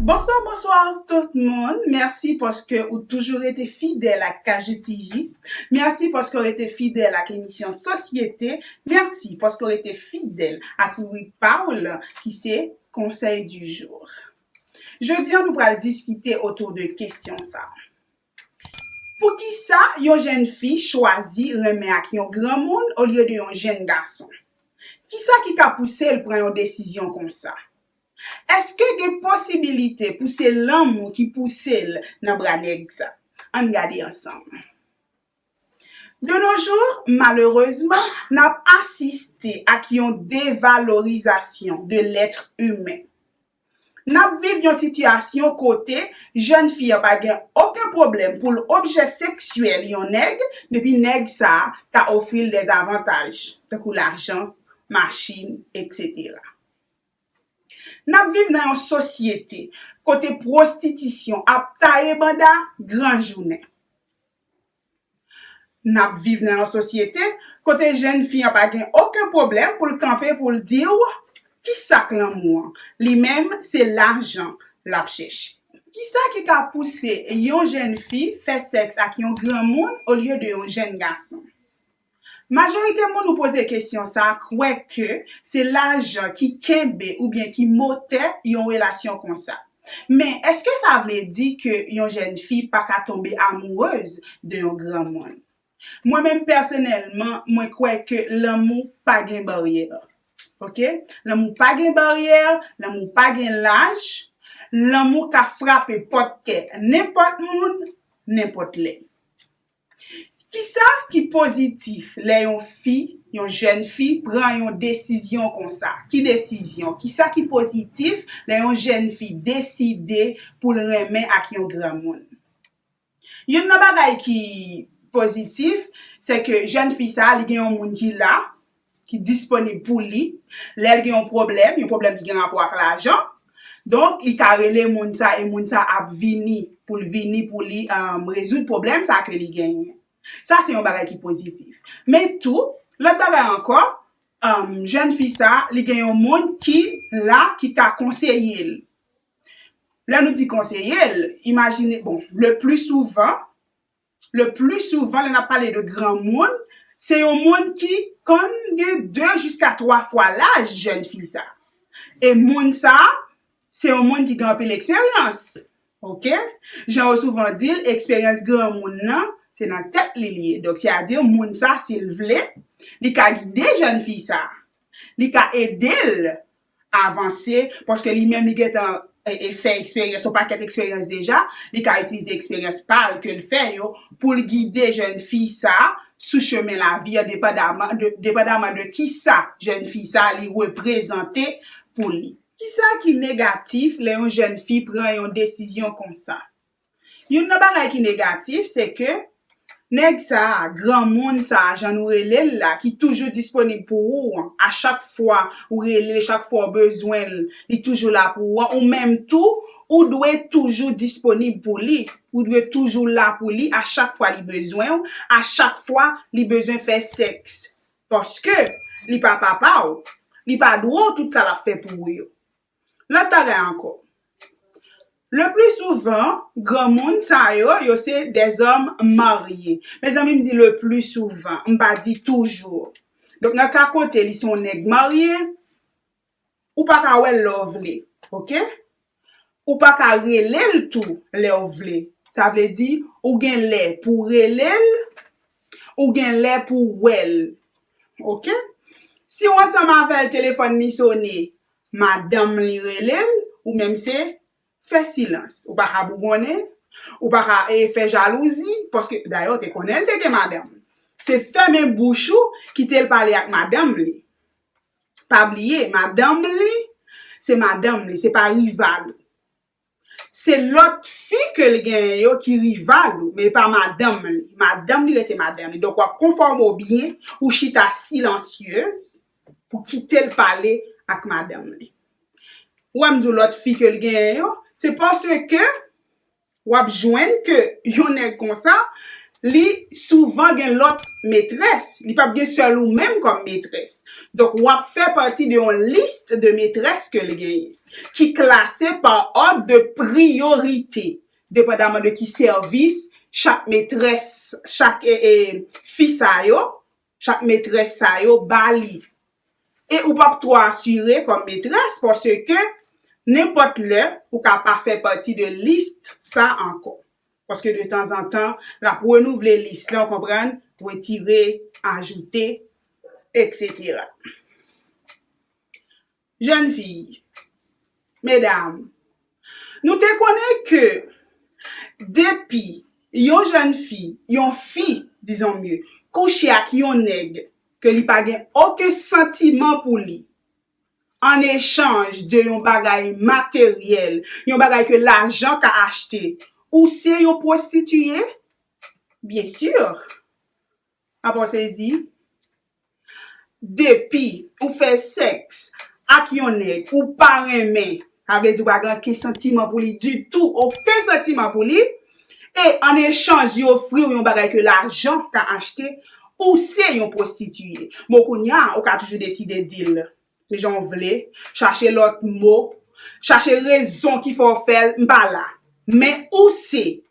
Bonswa bonswa tout moun, mèsi paske ou toujou rete fidèl ak KJTV, mèsi paske ou rete fidèl ak emisyon sosyete, mèsi paske ou rete fidèl ak ribrik pa ou lan ki se konsèy di jou. Jodi an nou pral diskite otou de kestyon sa. Poukisa yon jenn fi chwazi renmen ak yon granmoun olye de yon jenn gason? Kisa ki ka pouse l pran yon desizyon konsa? Èske gen posibilite pou se lanmou ki pouse l nan bra nèg sa? Ann gade ansanm. De nos jours, malerezman, n ap asiste ak yon devalorizasyon de l'être humain. N ap viv yon sitiyasyon kote jèn fi an pa gen oken pwoblèm pou l objè seksyèl yon nèg depi nèg sa a ta ofri l dèzavantaj tankou lajan, machin, eksetera. N ap viv nan yon sosyete kote pwostitisyon ap taye banda gran jounen. N ap viv nan yon sosyete kote jenn fi an pa gen oken pwoblèm pou l kanpe pou l di w, Ki sa k lanmou an? Li menm, se lajan l ap chèche. Ki sa ki ka pouse yon jenn fi fè sèks ak yon granmoun olye de yon jenn gason? Majorite moun ou poze kesyon sa kwè ke se lajan ki kenbe oubyen ki motè yon relasyon konsa. Men, èske sa vle di ke yon jèn fi pa ka tonbe amourez de yon granmoun? Mwen menm pèsonèlman, mwen kwè ke lanmou pa gen baryè. Ok. Lanmou pa gen baryè, lanmou pa gen laj, lanmou ka frape pòt kè nenpòt moun, nenpòt lè. Kisa ki pozitif lè yon fi, yon jèn fi pran yon desizyon konsa? Ki desizyon? Kisa ki pozitif lè yon jèn fi deside pou l renmen ak yon granmoun? Youn nan bagay ki pozitif, se ke jèn fi sa li gen yon moun ki la, ki disponib pou li lè l gen yon pwoblèm, yon pwoblèm ki gen rapò ak lajan. Donk, li ka rele moun sa e moun sa ap vini pou l vini pou li rezoud pwoblèm sa ke li genyen. Sa se yon bagay ki pozitif. Men tou, lòt bagay ankò, jèn fi sa, li gen yon moun ki la ki ka konseye l. Lè nou di konseye l, imajine, bon, le pli souvan, Le pli souvan lè nap pale de gran moun, se yon moun ki konn gen 2 jiska 3 fwa laj jèn fi sa. E moun sa, se yon moun ki gen anpil eksperyans. Ok. Jan yo souvan di l, eksperyans gran moun nan, se nan tèt li li ye. Donk se a di moun sa si l vle, li ka gide jèn fi sa. Li ka ede l avanse paske li menm li gentan fè eksperyans, yon pakèt eksperyans deja, li ka itilize eksperyans pa l ke l fè yo pou l gide jèn fi sa sou chemen lavi an depandaman de kisa jèn fi sa li reprezante pou li. Kisa ki negatif lè yon jèn fi pran yon desizyon konsa? Youn nan bagay ki negatif se ke nèg sa a, granmoun sa a jan nou rele l la ki toujou disponib pou ou an, a chak fwa ou rele l, chak fwa ou bezwen l, li toujou la pou ou an, ou menm tou ou dwe toujou disponib pou li, ou dwe toujou la pou li a chak fwa li bezwen ou, a chak fwa li bezwen fè sèks. Paske li pa papa ou, li pa dwe w tout sa l ap fè pou ou yo. Lòt bagay ankò, le pli souvan granmoun sa yo, yo se dèzòm marye. Mezanmi m di le pli souvan, m pa di toujou. Donk nan ka kote li se yon nèg marye, ou pa ka wè l lè w vle. Ok? Ou pa ka rele l tou lè w vle. Sa vle di, ou gen lè pou w rele l, ou gen lè pou w wè l. Ok? Si w ansanm avè l, telefòn li sone, Madanm li rele l, ou menm se fè silans. Ou pa ka bougonnen, ou pa ka fè jalouzi, paske dayè w te konnen l te gen madanm. Se fèmen bouch ou, kite l pale ak madanm li. Pa bliye, madanm li, se madanm li, se pa rival ou. Se lòt fi ke l genyen yo ki rival ou, men e pa madanm li. Madanm li rete madanm li. Donk w ap konfòme w byen, ou chita silansyez pou kite l pale ak madanm li. Ou wè m di w lòt fi ke l genyen yo, se paske w ap jwenn ke yon nèg konsa, li souvan gen lòt metrès. Li p ap gen sèl ou menm kòm metrès. Donk w ap fè pati de yon list de metrès ke l genyen. ki klase pa òd de priyorite, depandaman de ki sèvis chak metrès, chak fi sa yo, chak metrès sa yo ba li. E ou pap twò asire kòm metrès paske nenpòt lè ou ka pa fè pati de lis sa ankò. Paske de tanzantan l ap renouvle lis la, ou konprann, wetire, ajoute, eksetera. Jèn fi, medam, nou te konnen ke depi yon jèn fi, yon fi, dizon mye, kouche ak yon nèg ke li pa gen oken santiman pou li, an echanj de yon bagay materyèl, yon bagay ke lajan ka achte, ou se yon pwostitiye? Byen sur! Papa sezi. Depi ou fè sèks ak yon nèg ou pa renmen, sa vle di ou pa gen anken santiman pou li ditou, oken santiman pou li, e an echanj li ofri ou yon bagay ke lajan ka achte, ou se yon pwostitiye. Bon kounya ou ka toujou deside di l ki jan ou vle, chache lòt mo, chache rezon ki fè ou fè l, m pa la. Men ou se